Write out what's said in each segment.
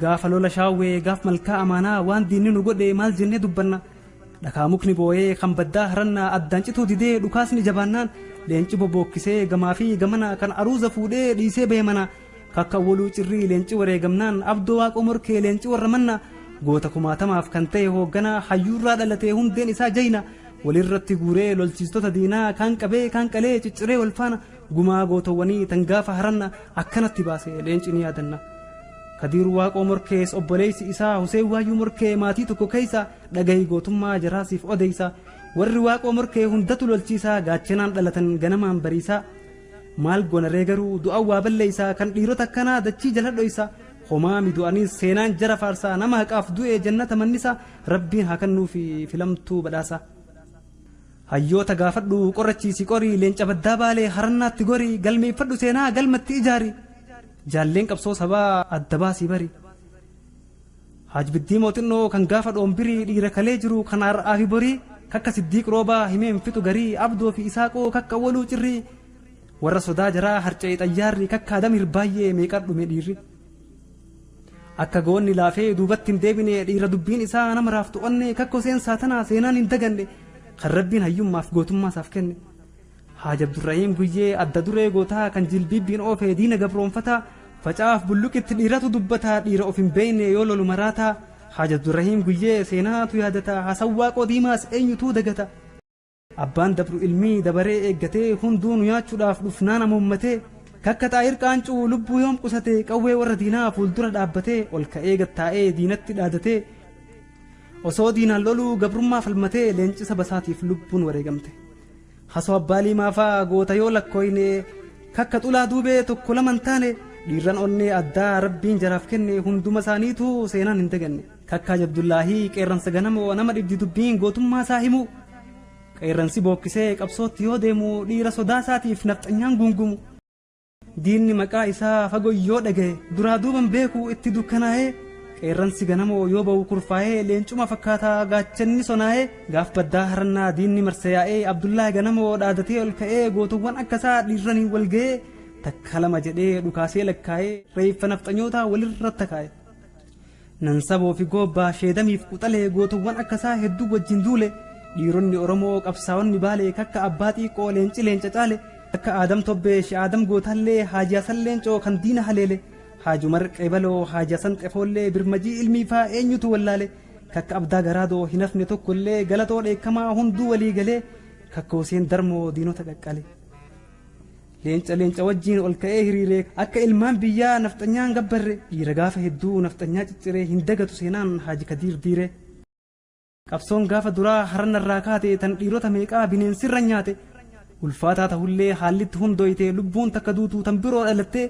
Gaafa lola shaawwee gaaf malkaa amaanaa waan diinni nu godhe maal jennee dubbanna. Dhakaa mukni booyee kan baddaa harannaa addaan cituu didee dhukaasni jabaannaan leenci bobookkisee gamaa fi gamana kan aruuza fuudhee dhiisee bahe mana. Kakka awwaluu cirrii leenci wareegamnaan abdoo waaqoo morkee leenci warra manna. Goota kumaatamaaf kan ta'e hoogganaa hayyuurraa dhalatee hundeen isaa jayna. Walirratti guuree lolchiistota diinaa kaan qabee kaan qalee cicciree wal faana Gumaa gootowwanii tan gaafa haranna akkanatti baase leenci ni yaadanna. Kadiir Waaqoo Morkees obboleessi isaa Huseen Waayyuu Morkee maatii tokko keessa dhagahi gootummaa jaraa siif odeessa. Warri Waaqoo Morkee hundatu lolchiisaa gaachanaan dhalatan ganamaan bariisaa. Maal gonaree garuu du'a waa balleessaa kan dhiirota akkanaa dachii jala dhoysa. Homaa midu'aniis seenaan jara faarsaa nama haqaaf du'e jannata mannisa rabbiin haa kannuufi filamtuu badhaasa. Hayyoota gaafadhu, qorachiisi, qori, leenca baddaa baalee harannaatti gori, galmeeffadhu seenaa, galmatti ijaari, jaalleen qabsoo sabaa adda baasii bari. Haaj Biddii Mooxinnoo kan gaafa Dhoombirii dhiira kalee jiru kan har'aa fi borii, kakka Siddiiq Roobaa himee hin fixu garii, Abdoo fi Isaaqoo kakka Awwaluu Cirrii, warra sodaa jaraa harca'e xayyaarri, kakka Adam Hirbaayyee meeqaan dhume dhiirri. Akka goonni laafee duubatti hin deebine dhiira dubbiin isaa nama raaftu onnee kakkoo seensaa tanaa seenaan hin daganne kan rabbiin hayyummaaf gootummaa isaaf kenne. Haaj Abdurrahiim Guyyee adda duree gootaa kan jilbiibbiin oofee diina gabroonfataa facaaf bulluqitti dhiiratu dubbataa dhiira of hin beeyne yoo lolu maraataa Haaj Abdurrahiim Guyyee seenaatu yaadata Hasan Waaqoo Diimaas eenyutuu dagata. Abbaan dabru ilmii dabaree eeggatee hunduu nu nyaachuudhaaf dhufnaan amuummatee kakka xaahir qaancuu lubbuu yoom qusate qawwee warra diinaa fuuldura dhaabbatee ol ka'ee gad taa'ee diinatti dhaadatee osoo diinaan loluu gabrummaa falmatee leencisa basaatiif lubbuun wareegamte hasoo abbaa liimaafaa goota yoo lakkooyne kakka xulaa duubee tokko lama hin taane dhiirran onnee addaa rabbiin jaraaf kenne hunduma isaaniitu seenaan hin daganne. Takkaa Abdullaahii qeerransa ganamoo nama dhibdi dubbiin gootummaa isaa himu. Qeerransi bookkisee qabsootti yoo deemu dhiira sodaa isaatiif nafxanyaan guungumu. Diinni maqaa isaa fago yoo dhagaye duraa duuban beeku itti dukkanaa'ee qeerransi ganamoo yoo ba'u kurfaa'ee leencuma fakkaataa gaachanni sonaa'ee gaaf baddaa harannaa diinni marse yaa'ee Abdullaahi ganamoo dhaadatee ol ka'ee gootowwan akka isaa dhiirraniin wal ga'ee takka lama jedhee dhukaasee lakkaa'ee reeffa nafxanyootaa walirra takaa'e. Nansaboo fi Goobbaa, Sheedamii fi Quxalee gootowwan akka isaa hedduu wajjin duule, dhiironni Oromoo qabsaa'onni Baalee kakka Abbaa Xiiqoo, Leenci Leenca caale, akka Aadam Tobbee, Shee Aadam Gootaallee, Haaji Hasan Leencoo kan diina haleele, Haaj Umar Qeebaloo, Haaji Hasan Xefoollee, Birmajii Ilmii faa eenyutu wallaale, kakka Abdaa Garaadoo hin hafne tokkollee, Galatoo Dheekkamaa hunduu walii galee, kakka Huseen Darmoo diinota qaqqale. Leenca leenca wajjiin ol ka'ee hiriiree akka ilmaan biyyaa nafxanyaan gabbarre dhiira gaafa hedduu nafxanyaa cicciree hin dagatu seenaan Haaji Kadiir Diiree. Qabsoon gaafa duraa haran irraa kaate tan dhiirota meeqaa bineensirra nyaate ulfaataa tahullee haallitti hundooyte lubbuun takka duutu tan biroo dhalattee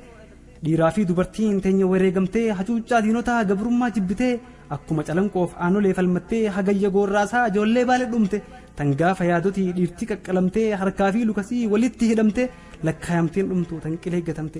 Dhiiraa fi dubartiin teenya wareegamtee hacuuccaa diinotaa gabrummaa jibbitee akkuma calanqoof aanolee falmattee hagayya goorraasaa ijoollee baale dhumte tan gaafa yaadotii dhiirtii qaqqalamtee harkaa fi lukasii walitti hidhamte lakkaayamteen dhumtu tan qilee gatamte.